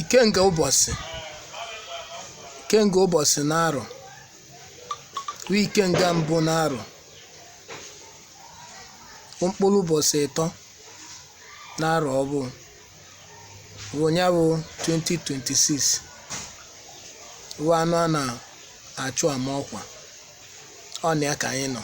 ikenga ụbọchị ikenga ụbọchị n'arọ bụ ikenga mbụ n'arọ mkpụrụ ụbọchị ịtọ n'arọ ọfụụ bụ nya bụ 2026 bụ anụ a na-achụ ama ọkwa ọ na ya ka anyị nọ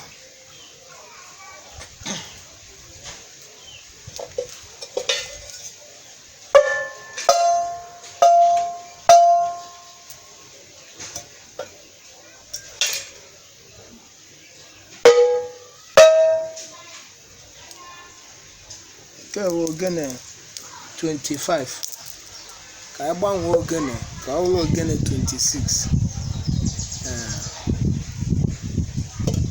nke a bụ ogene 25 ka anyị gbanwee ogene ka ọ bụrụ ogene 26 ee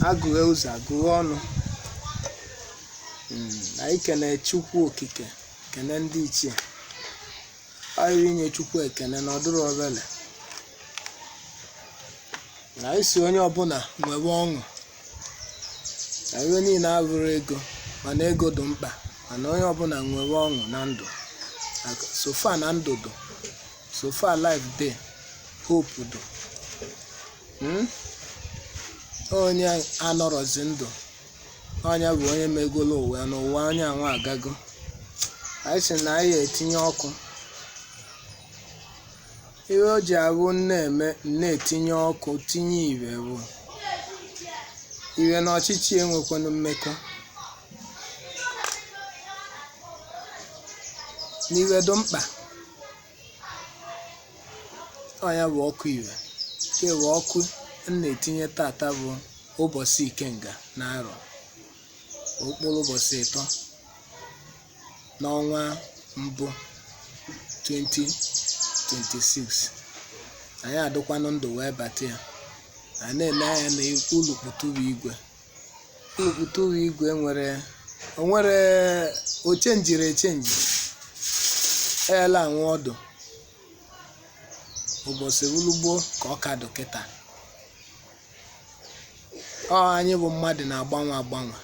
agụghe ụzọ agụghe ọnụ Mm, anyị kene chukwu okike kene ndị ichie anyị inye chukwu ekene na ọ dụrọ obele na anyị si onye ọbụla nwebe ọṅụ na ihe niile abụrọ ego mana ego dị mkpa mana onye ọbụla nwere ọṅụ na ndụ Like, so far na ndụ dụ so far life dey hope dụ Mm? onye anọrọzi ndụ onye bụ onye megolo ụwa ya n'ụwa onye anwa agago anyị sị na anyị etinye ọkụ Ihe o ji abụ na-etinye ọkụ tinye ihe bụ ihe na ọchịchị enwekwanụ mmekọ na ihe dị mkpa ọ nya bụ ọkụ ire nke bụ ọkụ m na-etinye tata bụ ụbọchị ikenga n'arọ mkpụrụ ụbọchị ịtọ n'ọnwa mbụ 2026 anyị adịkwanụ ndụ wee bata ya anyị na-ele anya na ulukputuru igwe ulukputuru igwe nwere o nwere o chenjiri echenji eela anwụ ọ dụ ụbọchị ulugbo ka ọ ka dụ kịta ọ anyị bụ mmadụ na-agbanwe agbanwe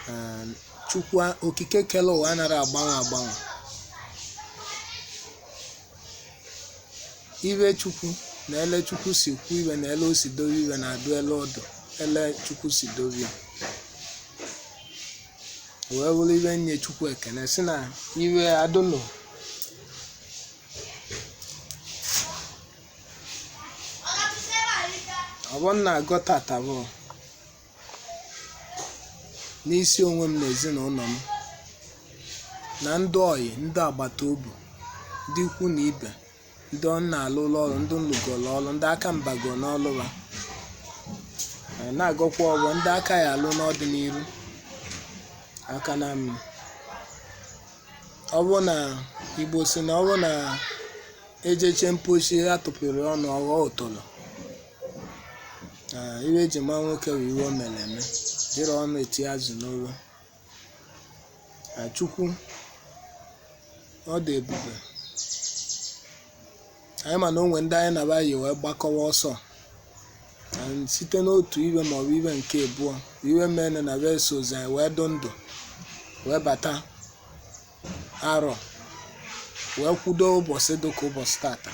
Ee, chukwu a- okike kele ụwa anara agbanwe agbanwe iwe chukwu na ele chukwu si kwu iwe na ele o si dowe iwe na-adụ ele ọ dụ ele chukwu si dowe ya wee wụrụ iwe nye chukwu ekene si na iwe adụnụ ọfọ m na-agọ tata bụ n'isi onwe m na ezinụlọ m na ndị ọyị ndị agbata obi ndị ikwu na ibe ndị m na-alụlụ ọlụ ndị m lụgolu ọlụ ndị aka m bago n'ọlụ ba ma na-agọkwa ọfọ ndị aka ya alụ n'ọdịnihu aka na m ọ bụ na igbo si na ọ bụ na ejeche mposi atụpịrị ọnụ ọ ghọọ ọtọlọ Ee, iwe eji ma nwoke bụ iwe o mere eme jiri ọnụ eti azụ n'olu Ee, chukwu ọ dị ebube anyị ma na o nwe ndị anyị na ba yi wee gbakọwa ọsọ Ee, site n'otu iwe maọbụ iwe nke abụọ iwe mere na ba esozi anyị wee dụ ndụ wee bata arọ wee kwudo ụbọchị dị ka ụbọchị tata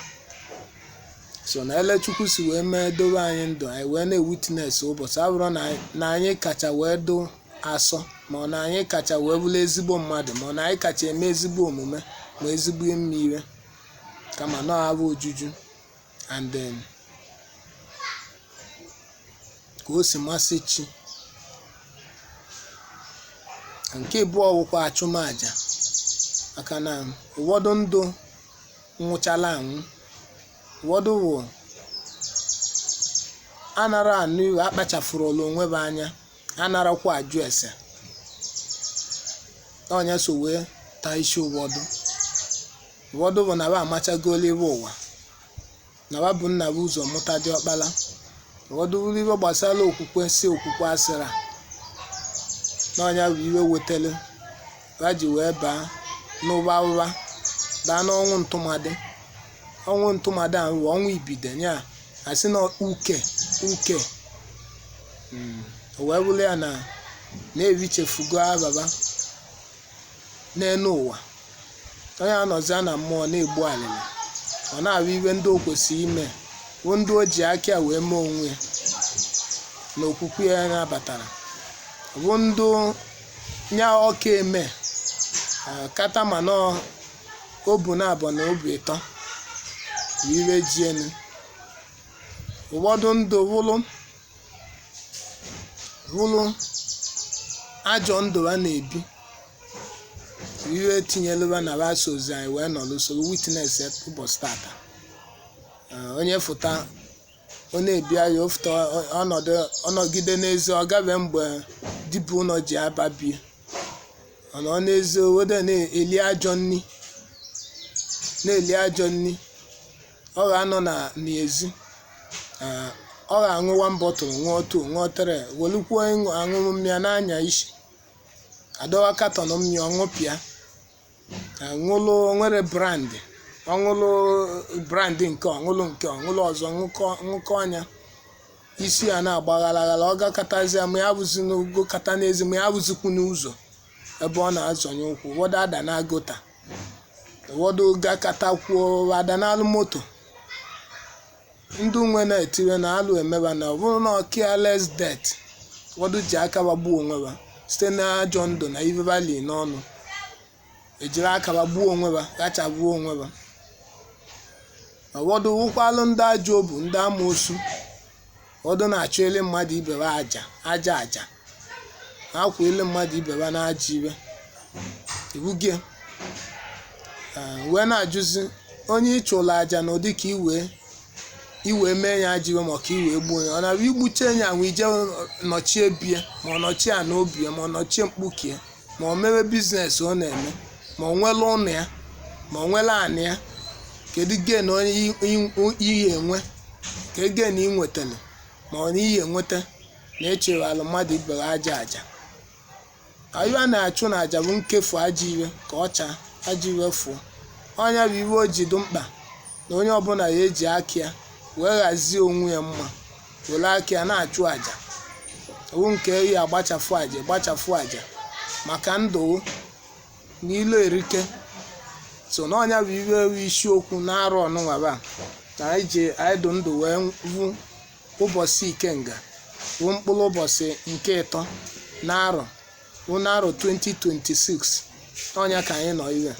so na ele chukwu si wee mee dowe anyị ndụ anyị wee na-ewitness ụbọchị abụrụ na anyị- na anyị kacha wee dụ asọ ma ọ na anyị kacha wee bụrụ ezigbo mmadụ ma ọ na anyị kacha eme ezigbo omume ma ezigbo ime ire kama na ọ afọ ojuju and then ka o si masị chi nke abụọ wụkwa achụmaja maka na ụfọdụ ndị nwụchala anwụ ụfọdụ wụ anara anụ iwe akpachafurula onwe ba anya anarakwa ajụ ese onye so wee taa isi ụfọdụ Ụfọdụ bụ na ba amachagolu ibe ụwa na ba bụ nna bu ụzọ mụta diọkpala ụfọdụ bụrụ ibe gbasara okwukwe si okwukwe asịra na ọ nya bụ iwe wetara ba ji wee baa n'ụba ụba baa n'ọnwụ ntụmadị ọnwụ ntụmadị ahụ bụ ọnwụ ibido ya asị na uke uke o wee bụrụ ya na na-ebichefugo aba ba n'enu ụwa onye anọzia na mmụọ na-egbu alịlị ọ na-abụ iwe ndị o kwesịrị ime bụ ndị o ji aka ya wee mee onwe ya na okwukwe ya nabatala bụ ndị nya ọ ka eme eh, kata ma na obu naabọ na obu ịtọ bụ iwe ji anyị ụfọdụ ndụ wụlụ bụrụ ajọ ndụ ba na-ebi ihe tinyelụ ba na ba sozi anyị wee nọrọ soro witness ụbọsị tata Ee, onye fụta ọ na-ebi anya ọ fụta ọ- ọ nọdụ ọ nọgide n'ezi ọ gabe mgbe di bu ụnọ ji aba bie ọ nọ n'ezi obodo na-eli ajọ nni na-eli ajọ nni ọ ga-anọ n'ezi Ah, ọ ga-aṅụ one bottle ṅụọ two ṅụọ three welukwuo ịṅụ aṅụrụma na-anya isi a dọwa carton mmịa ọ ṅụpịa Ah, ṅụlụ were brand ọ ṅụlụ brand nke ọ ṅụlụ nke ọ ṅụlụ ọzọ ṅụkọ ṅụkọọ nya isi a na-agba aghara aghara ọ gakatazie ma ya bụzi n'ogo kata n'ezi ma ya bụzikwu n'ụzọ ebe ọ na-azọnye ụkwụ ụfọdụ adaa na gutter ụfọdụ gakatakwuo adanyelụ moto ndị nwe na-etire na alụ emee ba na ọ bụrụ na ọ careless death ụfọdụ ji aka ba gbuo onwe ba site n'ajọ ndụ na ife ba li n'ọnụ ejiri aka ba gbuo onwe ba gachagbuo onwe ba ụfọdụ wụkwalụ ndị ajọ obu ndị amoosu ụfọdụ na-achụele mmadụ ibe ba aja aja aja a chụele mmadụ ibe ba na ajọ iwe iwugie wee na-ajụzi onye ị chụrụ aja na ọ dị ka iwe iwe mee ya ajọ iwe ma ọ ka iwe gbuo ya ọ na-abụ i buche ya ahụ i je nọchie bie ma ọ nọchie a n'obi ya ma ọ nọchie mkpukie ma o mewe business ọ na-eme ma o were ụnọ ya ma o were anị ya kedu gain onye i- i- ị ya-enwe kee gain ị nwetara ma ọ na ị ya-enweta na-achụrụ mmadụ ibe gị aja aja anyị na-achụ na aja bụ nkefu ajọ iwe ka ọ chaa ajọ iwe fụọ ọ nya bụ iwe o ji dị mkpa na onye ọbụna ya-eji aka ya wee ghazie onwe ya mma were aka ya na-achụ aja ọ wụ nke ya-agbachafụ aja gbachafụ aja maka ndụ na ilo erike so na ọ nya bụ iwe wụ isiokwu n'arọ nunwa bụ na anyị ji anyị dụ ndụ wee vụ ụbọsị ikenga bụ mkpụrụ ụbọsị nke ịtọ n'arọ bụ n'arọ 2026 ọ nya ka anyị nọ ihe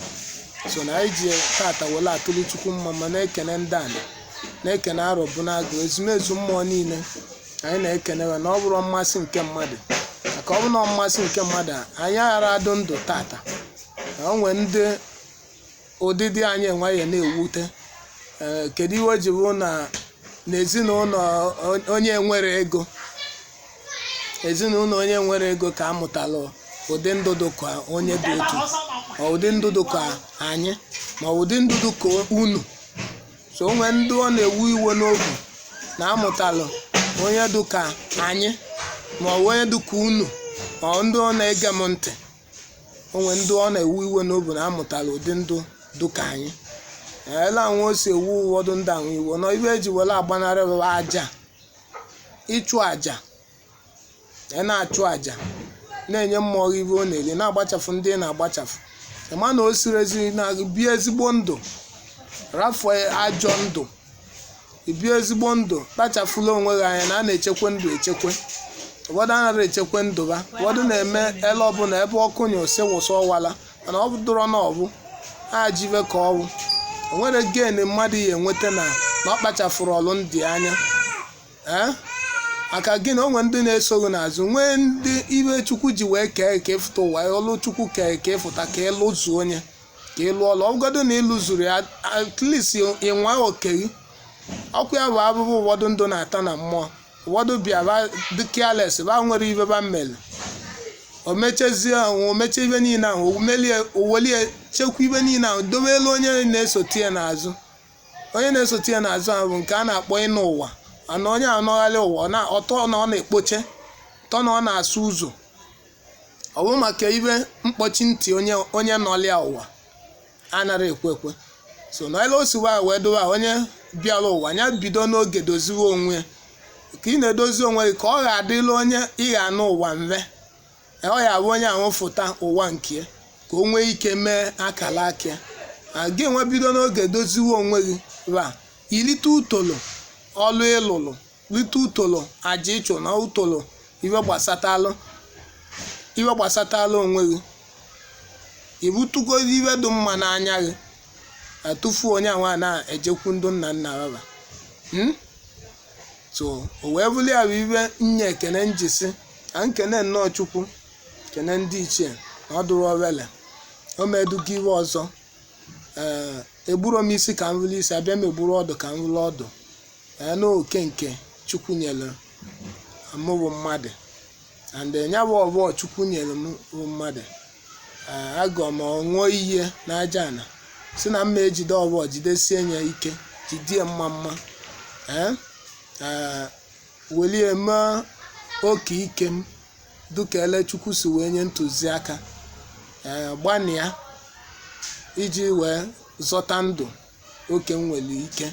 so na anyị ji tata were atụrụ chukwu mmamma na-ekene ndị anyị na-ekene arọ bụ n'agụ ezumezu mmụọ niile anyị na-ekene ba na ọ bụrọ mmasị nke mmadụ maka ọ bụrụ na ọ mmasị nke mmadụ anyị aghara adụ ndụ tata na o nwee ndị ụdịdị anyị nwere na-ewute ee kedu ihe o ji bụ na n'ezinụlọ on- onye nwere ego ezinụlọ onye nwere ego ka amụtalụ ụdị ndụ dị ka onye dị otu ma ụdị ndụ dị ka anyị ma ụdị ndụ dị ka unu so o nwee ndị ọ na-ewu iwe n'obi na amụtalụ onye dị ka anyị ma ọ bụ onye dị ka unu ma ndị ọ na-ege m ntị o nwere ndị ọ na-ewu iwe n'obi na amụtalụ ụdị ndụ dụ ka anyị ele anwụ o si ewu ụfọdụ ndị anwụ iwe na ive eji were agbanarị bụ aja ịchụ aja ị na-achụ aja na-enye mmụọ gị ive ọ na-eri na-agbachafụ ndị ị na-agbachafụ ị ma na o siri ezi na bie ezigbo ndụ rafuo ajọ ndụ ibi ezigbo ndụ kpachafula onwe gị anya na a na-echekwa ndụ echekwe ụfọdụ anaghị echekwa ndụ ha ụfọdụ na-eme ele ọbụla ebe ọkụ nyụọ o si wụsọ ọwala mana ọ dụrọ mma ọ bụ ajọ ive ka ọ wụ o nwerọ gain mmadụ ya-enweta na na ọ kpachafụrọlụ ndụ anya ee maka gịnị o nwere ndị na-eso gị n'azụ nwee ndị ive chukwu ji wee kee ka ị fụta ụwa ọlụ chukwu kee ka ị fụta ka ị lụzuo onye ka ị lụọla ọ bụgodu na ị lụzurọ ya at least ị nwaa oke gị ọkụ ya bụ abụbụ ụfọdụ ndụ na-ata na mmụọ ụfọdụ bịa ba dị careless ba enwerọ ive ba mmeli o mechezie ahụ o meche ive niile ahụ o melie o welie chekwa ive niile ahụ dobe elu onye na-esote ya n'azụ onye na-esote ya n'azụ ahụ bụ nke a na-akpọ ịnụ ụwa ana onye anọgharị ụwa ọ na- ọtọ na ọ na-ekpoche tọ na ọ na-asụ ụzọ ọ bụ maka ive mkpọchi ntị onye onye nọlịa ụwa anaghị ekwe ekwe so na ele o siwa wee dowe a onye bịara ụwa ya bido n'oge doziwe onwe ka ị na-edozi onwe gị ka ọ ga-adịlị onye ị ga-anụ ụwa mve ọ ya bụ onye ahụ fụta ụwa nke ka o nwee ike mee akalaka gị nwe bido n'oge doziwe onwe gị ka i lite utolo ọlụ ị lụlụ lite utolo aja ị chụ na utolo ive gbasatalụ ive gbasatalụ onwe gị ibutugozi ive dị mma n'anya gị atụfu onye anwa na-ejekwu ndị nna nna baba Hmm? so o wee bụrụ ya bụ ive nye ekene m ji sị ka m kene nnọọ chukwu kene ndị ichie na ọ dụrọ obele o meduga ive ọzọ ee egburo m isi ka m vuru isi abịa m egburo ọdụ ka m vuru ọdụ ee na oke nke chukwu nyere mụ bụ mmadụ and eh, ya bụ ọfọ chukwu nyere m bụ mmadụ ee agọ m ọṅụọ ihe n'aja ana si na mma ejide ọfọ jidesie ya ike jidie mma mma ee ee welie mee oke ike m dịka ele chukwu si wee nye ntụziaka ee gbanịa iji wee zọta ndụ oke m nwere ike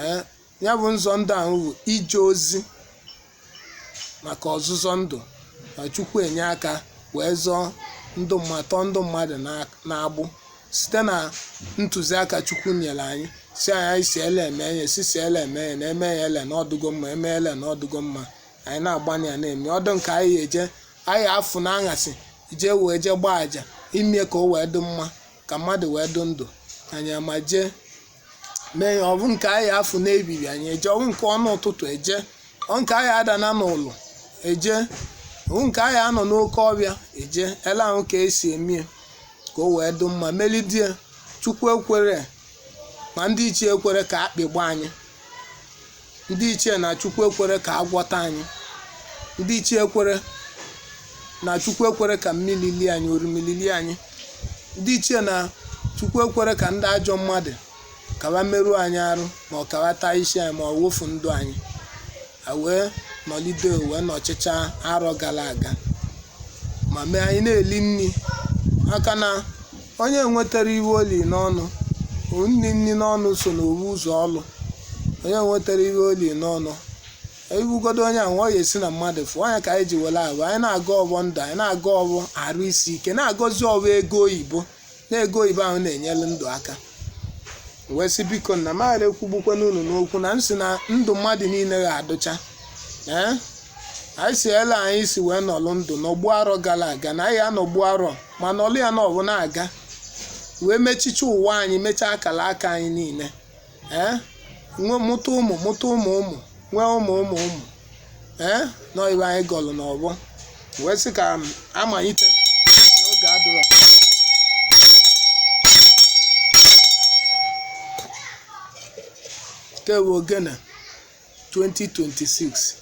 ee ya bụ nzọ ndụ ahụ bụ ije ozi maka ọzụzọ ndụ na chukwu enye aka wee zọọ ndụ ma tọọ ndụ mmadụ na-abụ site na ntụziaka chukwu nyere anyị si anyị anyị si ele eme enye si si ele eme enye na eme ya ele na ọ dụgo mma eme ele na ọ dụgo mma anyị na-agbanye ya na-eme ọ dụ nke anyị eje anyị afụ na aṅasị jee wee jee gbaa aja ime ka o wee dị mma ka mmadụ wee dị ndụ anyị ama jee mee ya ọ bụ nke anyị afụ n'ebiri anyị eje ọ bụ nke ọnụ ụtụtụ eje ọ nke anyị adana n'ụlọ eje ọ bụ nke anyị anọ n'oke ọfịa eje ele ahụ ka esi emie ka o wee dị mma melidie chukwu ekwere ma ndị ichie ekwere ka akpị gba anyị ndị ichie na chukwu ekwere ka agwọ taa anyị ndị ichie ekwere na chukwu ekwere ka mmiri lie anyị orimiri lie anyị ndị ichie na chukwu ekwere ka ndị ajọ mmadụ kawa merụọ anyị arụ ma ọ kawa taa isi anyị ma ọ wufu ndụ anyị a wee nọlide wee nọchịcha arọ gara aga ma mee anyị na-eli nri aka na Onye nwetara ihe o li n'ọnụ, o nni nni n'ọnụ so n'ofu ụzọ ọlụ. Onye nwetara ihe o li n'ọnụ, ị fụgodo onye ahụ ọ ya esi na mmadụ fụọ anya ka anyị ji were abụ anyị na-agọ ọfọ ndụ anyị na-agọ ọfọ arụ isi ike na-agọzi ọfọ ego oyibo na ego oyibo ahụ na-enyere ndụ aka wee sị biko na m aghara ekwugbukwana unu n'okwu na m sị na ndụ mmadụ niile ga-adụcha ee anyị si ele anyị si wee nọlụ ndụ nọgbu arọ gara aga na anyị anọgbu arọ ma nọlụ ya na ọbụ na-aga wee mechicha ụwa anyị mechaa akara aka anyị niile ee nwe mụta ụmụ mụta ụmụ ụmụ nwee ụmụ ụmụ ụmụ ee na ọ ihe anyị gọlụ n'ọfọ wee sị ka m amalite n'oge adụrọ nke bụ ogene 2026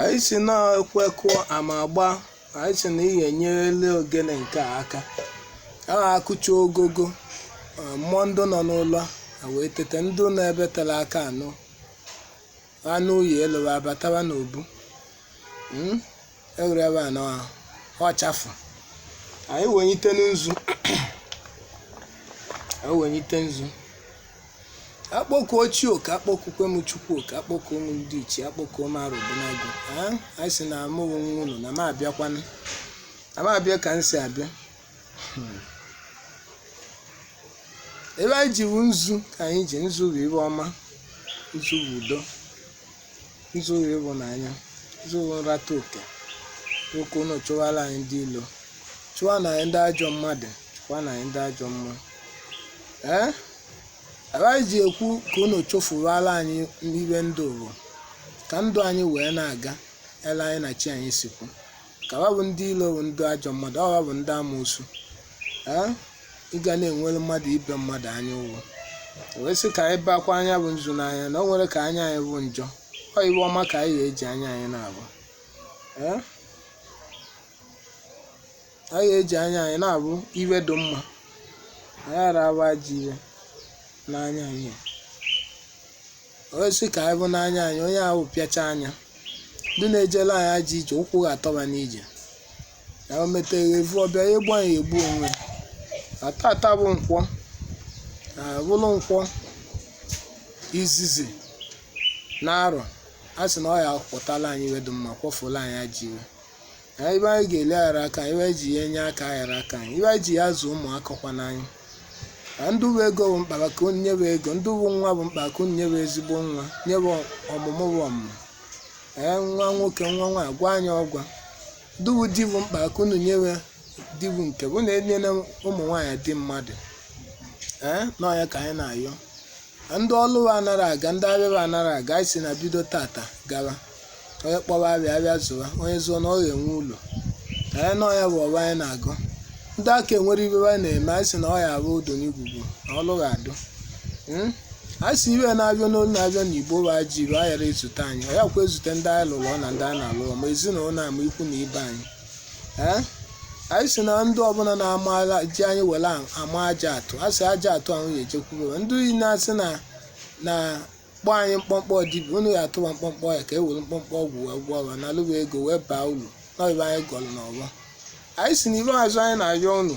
anyị sị na ekwe kụọ ama agbaa anyị sị na ihe enyerela ogene nke a aka a na-akụcha ogogo eh, mmụọ ndị nọ n'ụlọ a wee tete ndị nọ ebe tere aka anụ anụ uyi elowe abatawa n'obu Mm, ewere ebe a na ọchafụ anyị wenyite nzu akpọkuo chi oke akpọkukwe m chukwu oke akpọkuo m ndị ichie akpọkuo m arọbụnagụ anyị sị na amụghị nwa unu na m abịakwanụ na m abịa ka m si abịa iwe anyị ji bụ nzu ka anyị ji nzu bụ ibe ọma nzu bụ udo nzu bụ ịhụnanya nzu bụ nrata oke ka unu chụwara anyị ndị ilo chụwa na anyị ndị ajọ mmadụ chụwa na anyị ndị ajọ mmụọ ee ibe anyị ji ekwu ka unu chụfuwara anyị ibe ndụ bụ ka ndụ anyị wee na-aga ele anyị na chi anyị si kwu ka wa bụ ndị ilo bụ ndị ajọ mmadụ ọ wa bụ ndị amoosu ee ị ga na-enwere mmadụ ibe mmadụ anya ụfụ wee sị ka anyị bakwa nya bụ nzu n'anya na o nwere ka anya anyị bụ njọ ọ iwe ọma ka anyị ga-eji anya anyị na-abụ ee anyị ga-eji anya anyị na-abụ iwe dị mma anyị ara abụ ajọ iwe n'anya anyị wee sị ka anyị bụ n'anya anyị onye ahụ pịacha anya ndị na-ejela anyị ajọ ije ụkwụ ga-atọba n'ije ya o metere evu ọbịa ya egbu anyị egbu onwe na tata bụ nkwọ bụrụ nkwọ izizi n'arọ a sị na ọ ya kwọtala anyị iwe dị mma kwọfụla anyị ajọ iwe na ibe anyị ga-eli ghara akọ ibe anyị ji ya enye aka aghara akọ anyị ibe anyị ji ya azụ ụmụ akọkwana anyị na ndị ọ bụ ego bụ mkpa wa ka unu nyebe ego ndị ọ bụ nwa bụ mkpa wa ka unu nyebe ezigbo nwa nyebe ọmụmụ bụ ọmụmụ ee nwa nwoke nwa nwaanyị gwa anyị ọgwa ndị ọ bụ di bụ mkpa wa ka unu nyebe di bụ nke wa na enyela ụmụ nwaanyị di mmadụ ee na ọ ya ka anyị na-ayọ na ndị ọlụ anara aga ndị abịa anara aga anyị sị na bido tata gawa onye kpọwa abịa abịa zụwa onye zụọ na ọ ga-enwe ulu na ọ ya bụ ọfọ anyị na-agọ ndị aka enwere ibe anyị na-eme anyị sị na ọ ya abụ odo n'igwugwu na ọlụ ga-adụ Mm? anyị sị ibe na-abịa n'olu na-abịa n'igbo bụ ajọ ibe a ghara ezute anyị ọ ya kwa ezute ndị anyị lụrụ ọ na ndị anyị na-alụ ma ezinụlọ na ama ikwu na ibe anyị Ee? anyị sị na ndị ọbụla na-ama agha ji anyị were ama ajọ atụ a sị ajọ atụ ahụ ya ejekwuru ndị niile asị na na kpọọ anyị mkpọmkpọ dibia unu ya atụwa mkpọmkpọ ya ka e were mkpọmkpọ ọgwụ wee gwọọ ọrịa na alụwa ego wee baa uru na ibe anyị gọrọ n'ọfọ anyị si n'iru azụ anyị na-arịọ unu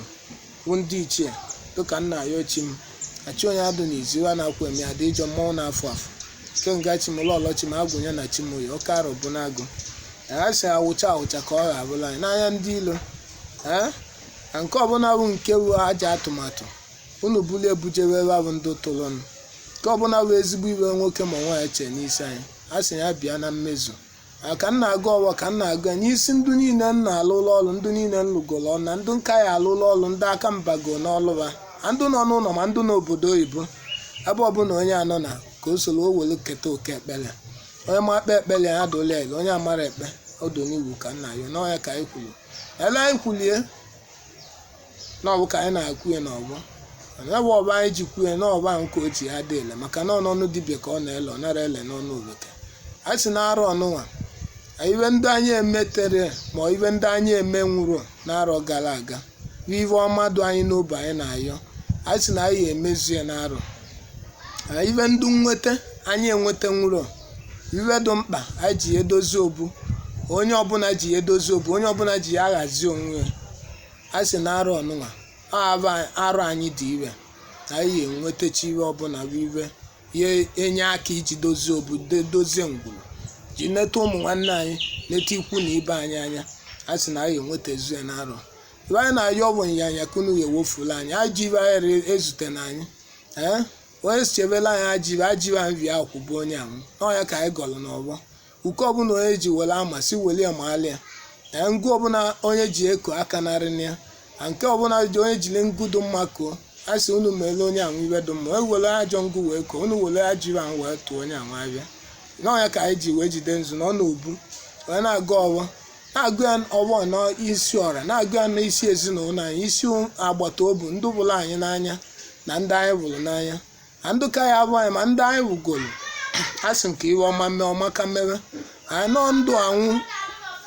bụ ndị ichie dịka m na-arịọ chi m achị onye adụ n'izu ụra na-akwụ eme adị ịjọ mmọnwụ na-afụ afụ ikenga chi m ụlọ ọlọ chi m agwụnye na chi m oyi oke arọbụnagụ anyị sị awụcha awụcha ka ọ ghabụla anyị n'anya ndị ilo ee na nke ọbụla bụ nke wu ajọ atụmatụ unu buru ebu jewe ebe ahụ ndị tụrụnụ nke ọbụla bụ ezigbo ive nwoke ma nwaanyị chee n'isi anyị a sị ya bịa na mmezu a ka m na-agọ ọvọ ka m na-agọ ya n'isi ndụ niile m na-alụrụ ọrụ ndụ niile m lụgoro ọrụ na ndụ m ka ya alụrụ ọrụ ndị aka m bago n'ọrụ va ma ndụ nọ n'ụlọ ma ndụ n'obodo oyibo ebe ọbụla onye anọ na ka o soro o were keta oke ekpere onye ma ekpe ekpere ya adụla ele onye amara ekpe ọdụ n'iwu ka nna ya n'ọya ka anyị kwuru ele anyị kwulie na ọ bụ ka anyị na-ekwu ya n'ọvọ ya bụ ọba anyị ji kwuo ya na ọba nke ochie ya dị ele maka na ọ n'ọnụ dibịa ka ọ na-ele ọ nara ele n'ọnụ oveke a sị na arọ ọnụnwa ive ndị anyị emetere ma ive ndị anyị emenwurọ n'arọ gara aga bụ ive ọma dụ anyị n'obi anyị na-ayọ anyị sị na anyị emezu ya n'arọ ive ndị nweta anyị enwetanwurọ ive dị mkpa anyị ji edozi obu onye ọbụla ji edozi obu onye ọbụla ji ya aghazi onwe ya a sị na arọ ọnụnwa abụ arọ anyị dị iwe na anyị enwetachi ive ọbụla bụ ive ya enye aka iji dozie obu de- dozie ngwuru ji neta ụmụ nwanne anyị neta ikwu na ibe anyị anya a sị na anyị enwetazu ya na arọ ive anyị na-ayọ bụ nyanya ka unu ya ewefula anyị ajọ ive anyị re- ezutena anyị ee onye chebela anyị ajọ ive ajọ ive nri ahụ kụgbue onye ahụ n'ọya ka anyị gọrọ n'ọvọ iko ọbụla onye ji were ama si were ya maalị ya na ngụ ọbụla onye ji eko aka narị na ya na nke ọbụla ji onye jiri ngụ dị mma koo a sị unu meele onye ahụ ive dị mma wee were ajọ ngụ wee koo unu were ajọ ive ahụ wee tụọ onye ahụ avịa n'ọya ka anyị ji wee jide nzu nọ n'obu wee na-agọ ọvọ na-agọ ya ọvọ na isi ọra na-agọ ya na isi ezinụlọ anyị isi agbata obi ndị vụrụ anyị n'anya na ndị anyị vụrụ n'anya na ndị ka ya avụ anyị ma ndị anyị vụgoro a sị m ka ive ọma mee ọma ka mewe anyị nọ ndụ anwụ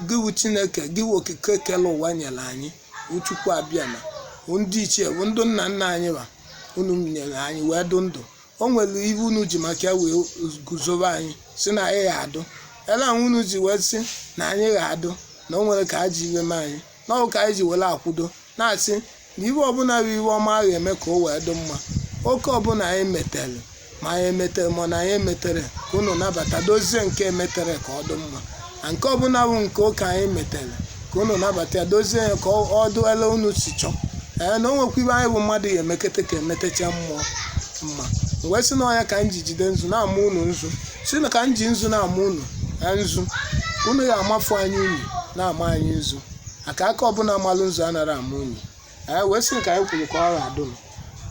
gị wụ chineke gị wụ okike kele ụwa nyere anyị wụ chukwu abịama ndị ichie bụ ndị nna nna anyị va unu nyere anyị wee dụ ndụ o nwere ive unu ji maka ya wee guzobe anyị si na anyị ga-adụ ele ahụ unu ji wee sị na anyị ga-adụ na o nwere ka a ji ive mee anyị na ọ bụ ka anyị ji were akwụdo na-asị na ive ọbụla bụ ive ọma a ga-eme ka o wee dị mma oke ọbụla anyị metere ma anyị emetere ma na anyị emetere ka unu nabata dozie nke emetere ka ọ dị mma na nke ọbụla bụ nke ụka anyị metere ka unu nabata ya dozie ya ka ọ dụ ele unu si chọọ ee na o nwekwa ive anyị bụ mmadụ ya emekete ka emetecha mmụọ mma wee sị na ọya ka m ji jide nzu na-ama unu nzu si na ka m ji nzu na-ama unu ee, nzu unu ya amafu anyị unu na-ama anyị nzu aka aka ọbụla malụ nzu anara ama unu anyị wee sị nke anyị kwuru ka ọ ga-adị nụ.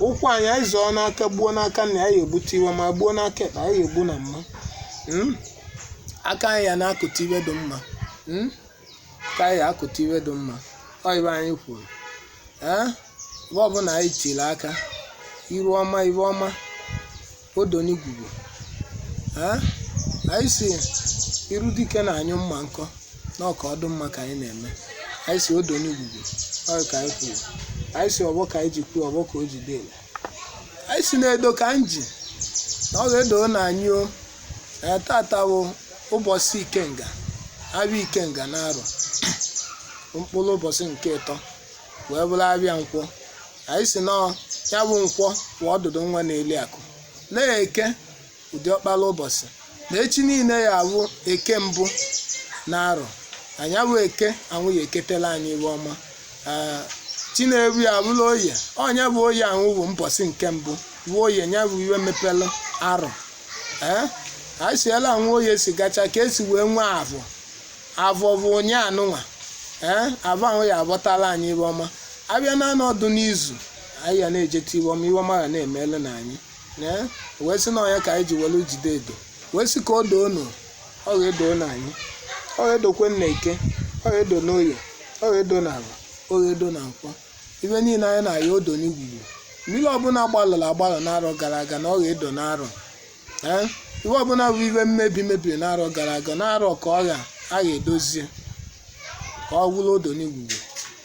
ụkwụ anyị anyị zọọ n'aka gbuo n'aka na anyị egbute ive ọma gbuo n'aka ekpe anyị egbu na mma Mm? aka anyị ya na-akụta ive dị mma Mm? aka anyị ya akụta ive dị mma ọ ive anyị kwuru ee ebe ọbụla anyị tiri aka iru ọma ive ọma odonigwugwu ee anyị sị iru dike na-anyụ mma nkọ na ọ ka ọ dụ mma ka anyị na-eme anyị sị odonigwugwu ọ ka anyị kwuru anyị sị ọvọ ka anyị ji kwuo ọvọ ka o ji dịla anyị sị na edo ka m ji na ọ ga-edo na anyị o ee tata bụ ụbọsị ikenga avịa ikenga na arọ mkpụrụ ụbọsị nke ịtọ wee bụrụ avịa nkwọ anyị sị na ya bụ nkwọ bụ ọdụdụ nwa na-eli akụ na eke bụ diọkpara ụbọsị na echi niile ya abụ eke mbụ na arọ anyị abụ eke ahụ ya eketela anyị ive ọma Ee, chineru ya abụla oye ọ nya bụ oye ahụ bụ mbọsị nke mbụ bụ oye nya bụ ive mepere arọ ee anyị sị ela ahụ oye si gacha ka e si wee nwee avọ avọ bụ ụnyaa nụnwa ee avọ ahụ ya abọtala anyị ive ọma avịa naanọ dụ n'izu anyị ya na-ejeta ive ọma ive ọma ga na-emelu na anyị ee wee sị na ọ nya ka anyị ji welu jide edo wee sị ka o doo nụ ọ ga-edo na anyị ọ ga-edokwa n'eke ọ ga-edo n'oye ọ ga-edo n'avọ ọ ga-edo na nkwọ ive niile anyị na-ayọ odo n'igwugwu mmiri ọbụla gbalụrụ agbalụ n'arọ gara aga na ọ ga-edo n'arọ ee ive ọbụla bụ ive mmebi mebiri n'arọ gara aga n'arọ ka ọ ga a ga-edozie ka ọ bụrụ odo n'igwugwu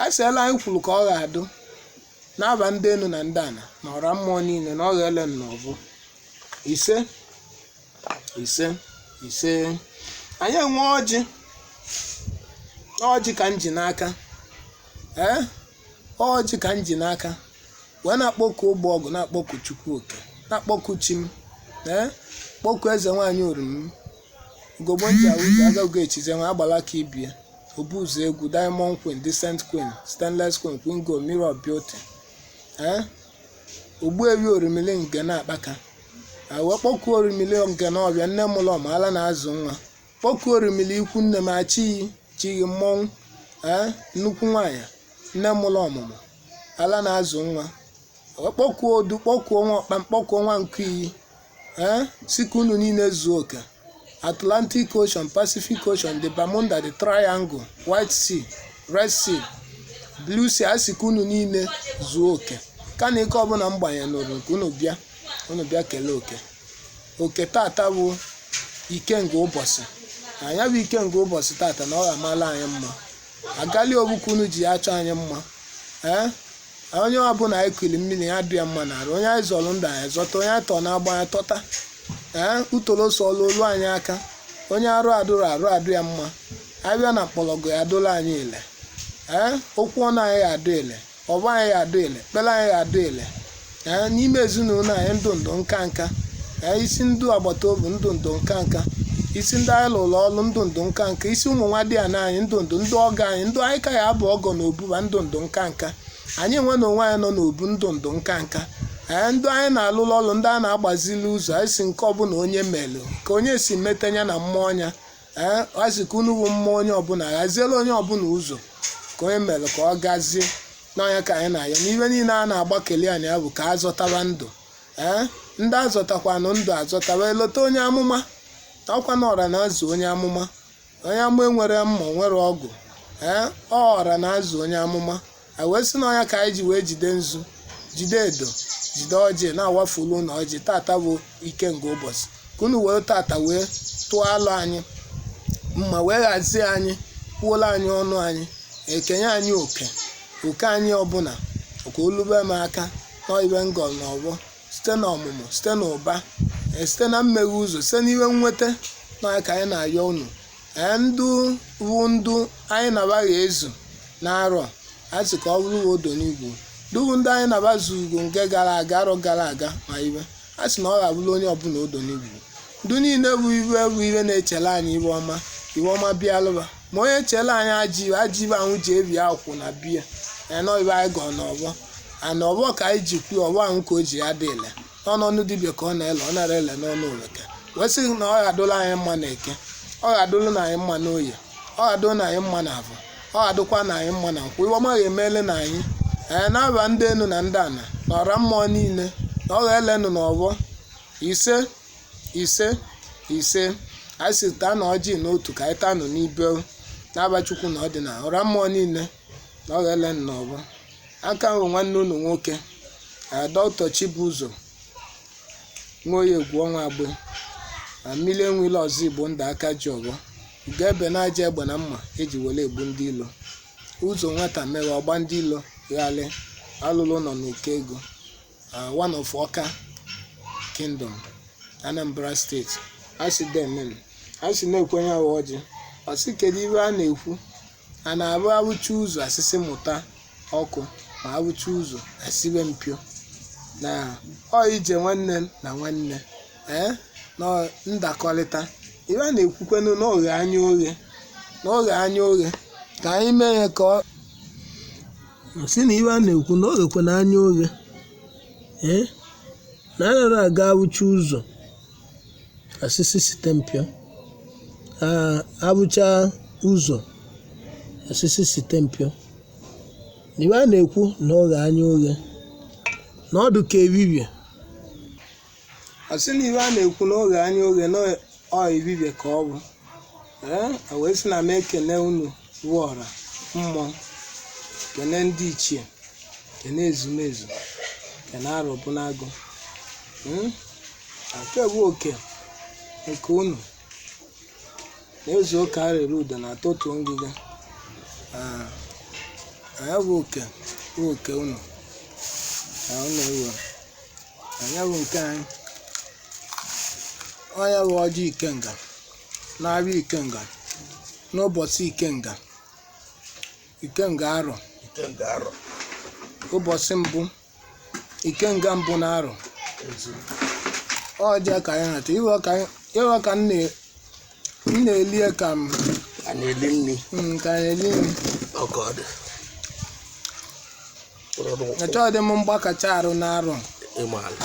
a sị ela anyị kwuru ka ọ ga-adụ n'aba ndị enu na ndị ana na ọra mmụọ niile na ọ ga-ele na ọ bụ ise ise ise anyị enwe ọjị ọjị ka m ji n'aka ee ọjị ka m ji n'aka wee na-akpọku ọvọ ogu na-akpọku chukwu oke na-akpọku chi m ee kpọku eze nwaanyị orimi ugogbo nji awụzi agago echize nwa agbala ka ibie obu ụzọ egwu diamond queen decent queen stainless queen queen gold mirror of beauty ee ogbuevi orimili nke na-akpaka wee kpọkuo orimili nke na ọbịa nne mụlụ ọmụmụ ala na-azụ nwa kpọkuo orimili ikwu nne m achịghị chighị mmọnwụ ee nnukwu nwaanyị nne mụlụ ọmụmụ ala na-azụ nwa wee kpọkuo odu kpọkuo nwa ọkpa kpọkuo nwa nkụ iyi ee sị ka unu niile zuo oke atlantic ocean pacific ocean the bermuda the triangle white sea red sea blue sea a sị ka unu niile zuo oke ka na ike ọbụla m gbanyenụrụ ka unu bịa unu bịa kelee oke oke tata bụ ikenga ụbọchị na ya bụ ikenga ụbọchị tata na ọ ga-amala anyị mma agali ogbukwu unu ji achọ anyị mma ee onye ọbụla anyị kuli mmiri ya dị ya mma n'arụ onye anyị zọrọ ndụ anyị zọta onye anyị tọọ n'agbụ anyị tọta ee utoro so ọlụ olu anyị aka onye arụ adụrọ arụ adụ ya mma abịa na mkpọrọgwụ ya adụla anyị ile ee okwu ọnụ anyị ya adụ ile ọvọ anyị ya adị ile ekpere anyị ya adị ile ee n'ime ezinụlọ anyị ndụ ndụ nka nka ee isi ndị agbata obi ndụ ndụ nka nka isi ndị anyị lụrụ ọrụ ndụ ndụ nka nka isi ụmụ nwadịana anyị ndụ ndụ ndị ọgọ anyị ndụ anyị ka ya abụ ọgọ na obuba ndụ ndụ nka nka anyị enwe na onwe anyị nọ n'obu ndụ ndụ nka nka ee ndị anyị na-alụrụ ọrụ ndị anyị na-agbazili ụzọ anyị sị nke ọbụla onye melụ ka onye si meta nya na mmụọ nya ee a sị ka unu bụ mmụọ onye ọbụla ghaziela onye ọbụla ụzọ ka onye mere ka ọ gazie na ọ nya ka anyị na-ayọ na ive niile a na-agbakeli anyị ya bụ ka a zọtaba ndụ ee ndị azọtakwanụ ndụ azọtaba elota onye amụma ọkwa na ọra na-azụ onye amụma onye amụma enwero mma enwero ọgụ ee ọ ọra na-azụ onye amụma anyị wee sị na ọ nya ka anyị ji wee jide nzu jide edo jide ọjị na-awafulu unu ọjị tata bụ ikenga ụbọchị ka unu wee tata wee tụọ alụ anyị mma wee ghazie anyị kwuola anyị ọnụ anyị ekenye anyị oke oke anyị ọbụla ka o lube m aka n'ive m gọlụ na ọvọ site na ọmụmụ site na ụba eh, site na mmeghe ụzọ site n'ive nnweta na ọ nya ka anyị na-ayọ unu Ee, ndụ wụ ndụ anyị nabaghị ezu n'arọ a sị ka ọ bụrụ uwe odo n'uvie ndụ wụ ndụ anyị naba zugo nke gara aga arọ gara aga ma ive a sị na ọ ga-abụrụ onye ọbụla odo n'uvie ndụ niile bụ ive bụ ive na-echere anyị ive ọma ive ọma bịalụba ma onye chere anyị ajọ ive ajọ ive ahụ ji ebi akwụ na be ya na ọ ive anyị gọọ n'ọvọ a na ọvọ ka anyị ji kwuo ọvọ ahụ ka o ji ya dị ile ọ n'ọnụ dibịa ka ọ na-ele ọ narọ ele n'ọnụ oveke wee sị na ọ ga-adụla anyị mma na eke ọ ga-adụlụ anyị mma n'oye ọ ga-adụlụ anyị mma na afọ ọ ga-adụkwa anyị mma na nkwọ ive ọma ga-emele na anyị ee n'ava ndị enu na ndị ana na ọra mmụọ niile na ọ ga-elenụ n'ọvọ ise ise ise anyị sị taanụ ọjị n'otu ka anyị taanụ n'ibe n'ava Chukwu na ọdịnala ọra mmụọ niile na ọ ga-elenụ n'ọvọ a ka m bụ nwanne unu nwoke doctor Chibuzo Nwoye Egwuọnwụ agbe na mmiri enwele ọzọ igbo ndụ aka ji ọvọ ugo ebe n'aja egbe na mma e ji were egbu ndị ilo ụzọ nwata mere ọgba ndị ilo ghalị alụlụ nọ n'ọka ego one of ọka kingdom anambra state a sị deemenụ a sị na-ekwenye awa ọjị ọ sị kedu ive a na-ekwu A na-abụ abụcha ụzọ asịsị mụta ọkụ ma abụcha ụzọ asibe mpio na ọ ije nwanne na nwanne ee na ọ ndakọrịta ife a na-ekwukwenu na oghe anya oghe na oghe anya oghe ka anyị mee ya ka ọ si na ife a na-ekwu na oghekwe na anya oghe ee na anaghị aga abụcha ụzọ asịsị site mpio abụcha ụzọ asịsị site mpio ife a na-ekwu na oghe anya oghe na ọ dụ ka ebibie asị na ife a na-ekwu na oghe anya oghe na ọ ebibie ka ọ bụ ee a wee sị na m ekene unu wụ ọra mmụọ kene ndị ichie kene ezumezu kene Arọbụnagụ Mm? Nke bụ oke nke unu na-ezu oke arịrị udo na atụtụ ngịga Ah, anya bụ oke bụ oke unu na unu ewe anya bụ nke anyị ọ nya bụ ọjị ikenga na-abịa ikenga n'ụbọchị ikenga ikenga arọ. ụbọchị mbụ ikenga mbụ na arọ ọjị ka anyị na-achọ ife ka anyị- ife ka m na- m na-elie ka m a na-eli nri mm, ka anyị elie nri. ọka ọ dị achọghị dị m mgbakacha arụ na arọ ịmaala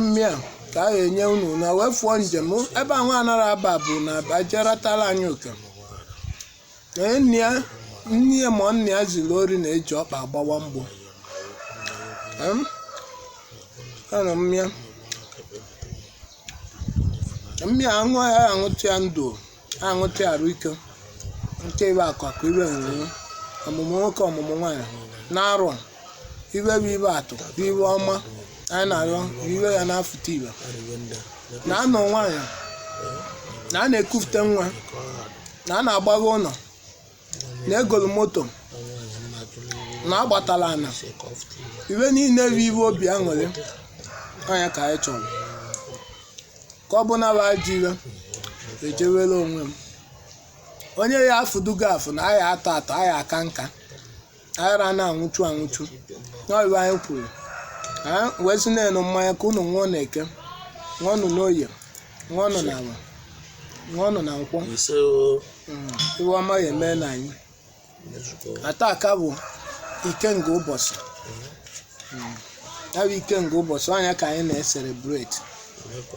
mmịa ka a ga-enye unu na wee fụọ njem ebe ahụ anara aba bụ na ajeratala anyị nwoke nne ya ma nna ya ziri ori na-eji ọkpa agbawa mgbo Em? ana mmịa mmịa aṅụ ya aṅụtụ ya ndụ aṅụtị arụ ike nke ife akụ akụ ife enwe enwe ọmụmụ nwoke ọmụmụ nwaanyị na-arụ a. ife bụ ife atụ bụ ife ọma anyị na-arịọ bụ ife ya na-afụta ife na anụ nwaanyị na a na-ekufute nwa na a na-agbago ụnọ na egolu moto na agbatala ana ife niile bụ ife obi aṅụrị ọ nya ka anyị chọrọ ka ọ bụ na bụ ajọ ife ejewere onwe m onye ya afụdugo afụ na a ya-atọ atọ a ya-aka nka aghara a na-anwụchu anwụchu n'ọ bụ anyị kwuru ha wee sị nenụ mmanya ka unu ṅụọ n'eke ṅụọnụ n'oye ṅụọnụ n'afọ ṅụọnụ na nkwọ ise o Mm, ife ọma ya emee na anyị mezukọ ata aka bụ ikenga ụbọchị Mm, ya bụ ikenga ụbọchị ọ nya ka anyị na-eselebreti mmekọ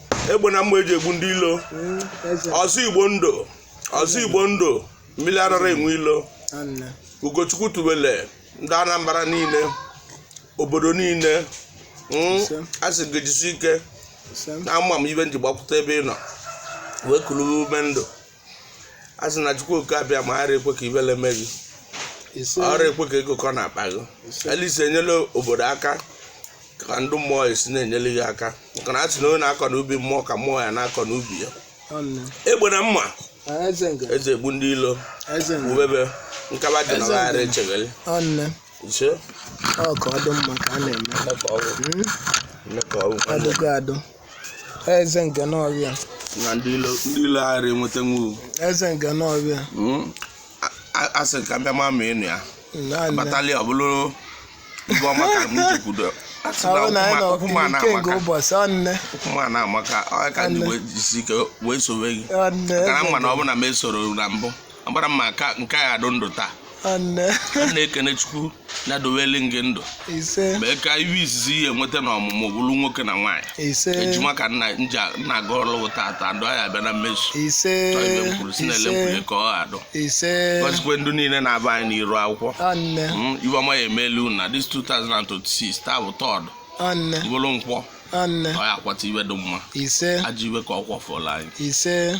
egbe na mma eji egbu ndị ilo ọzọ igbo ndụ ọzọ igbo ndụ mmili arara enwe ilo ugochukwu tubele ndị anambra niile obodo niile hmm, a sị gị jisi ike na ama m ive m ji gbakwụta ebe ị nọ wee kulu ume ndụ a sị na chukwu oke abịama ara ekwe ka ivele mee gị ise ọ ra ekwe ka ego kọ n'akpa gị Ise. ele i si enyele obodo aka ka ndị mmụọ esi na-enyele gị aka maka na a sị na onye na-akọ n'ubi mmụọ ka mmụọ ya na-akọ n'ubi ya ọnụ egbe na mma Ah, eze nga eji egbu ndị ilo eze nga ubebe nkaba dị na Eze ghara njem. echegharị ọnụ ise ọ ka ọ dị mma ka a na-eme nne ka ọgwụ Mm, nne ka ọgwụ ọ dịgo adụ eze nke n'ọbịa na ndị ilo ndị ilo aghara enweta nwu eze nke n'ọbịa a sị ka mbịa ma ma ịnụ ya naanị batali ọ bụrụ ive ọma ka m jekwudo asị na ahụ na anyị nọ ụkwụma na nke nke amaka ụbọchị ọnne ụkwụma na amaka ọ ka ndị wee jisi ike wee sowe gị ọnne maka na mma na ọ bụ na m esoro na mbụ agbara m aka nke a adụ ndụ taa nne a na-ekene chukwu na-adoweli gị ndụ ise mee ka ive izizi ị ya enweta na ọmụmụ bụrụ nwoke na nwaanyị ise ejima ka nna nja nna gị ọlụwụ tata ndụ anyị abịa na mmezu ise chọọ ive m kwuru si na ele m kwuru ka ọ adụ ise gọzikwe ndụ niile na-avụ anyị n'iru akwụkwọ nne Mm, ive ọma ya emelu na this 2026 taa bụ Thursday nne bụrụ nkwọ nne ọ ya akwọta ive dị mma ise ajọ ive ka ọ kwọfụla anyị ise